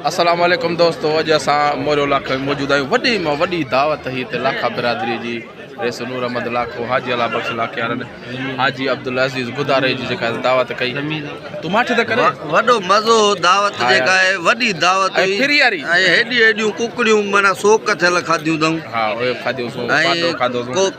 السلام عليڪم دوستو اڄ اسان موريو لاکو ۾ موجود آهيون وڏي مان وڏي دعوت هي ته لاکا برادري جي رئيس نور احمد لاکو حاجي الله بخش لاکيارن حاجي عبدالعزيز گداري جي جيڪا دعوت ڪئي تو ماٺ ته ڪري وڏو مزو دعوت جيڪا آهي وڏي دعوت هئي پھري واري ۽ هيڏي هيڏيون ڪڪڙيون معنی سوڪ ٿيل کاڌيون اٿم ها اهي کاڌيون سو پاٽو کاڌو سو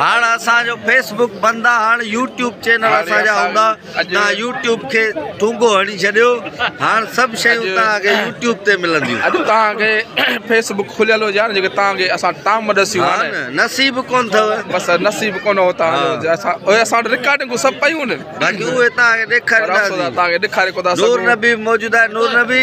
هاڻ اسان جو فيس بڪ بند آ هاڻ يوٽيوب چينل اسان جا هوندا نا يوٽيوب کي ٺونگو هڻي ڇڏيو هاڻ سڀ شيون تا کي يوٽيوب تي ملنديون اڄ تا کي فيس بڪ کليل هجي هاڻ جيڪي تا کي اسان ٽام ڏسي ها نه نصيب ڪون ٿو بس نصيب ڪون هو تا اسان اوهي اسان ريڪارڊنگ سڀ پيون نه باقي اوهي تا کي ڏيکاري ڏيکاري ڪو تا نور نبي موجودا نور نبي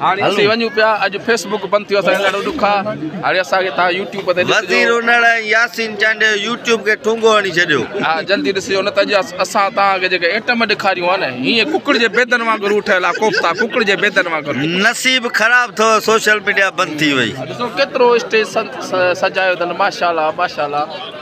هاڻي اسين وڃون پيا اڄ فيس بڪ بند ٿيو اسان ڏاڍو ڏک آ هاڻي اسان کي تان يوٽيوب تي وزير انڙ ۽ ياسين چانڊيو يوٽيوب کي ٺونگو هڻي ڇڏيو ها جلدي ڏسجو نه ته اڄ اسان تان کي جيڪي ايٽم ڏيکاريون آ نه هيئن ڪڪڙ جي بيدن وانگر ٺهيل آ ڪوفتا ڪڪڙ جي بيدن وانگر نصيب خراب ٿو سوشل ميڊيا بند ٿي وئي ڏسو ڪيترو اسٽيج سجايو اٿن ماشاءالله ماشاءالله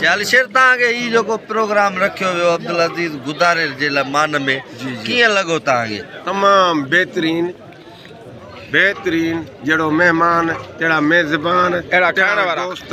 جالشير تان کي هي جيڪو پروگرام رکيو ويو عبدالعزيز گدارير جي لاء مان ۾ ڪيئن لڳو تان کي تمام بهترين بهترين جهڙو مهمان تهڙا ميزبان اهڙا ٺهڻ وارا دوست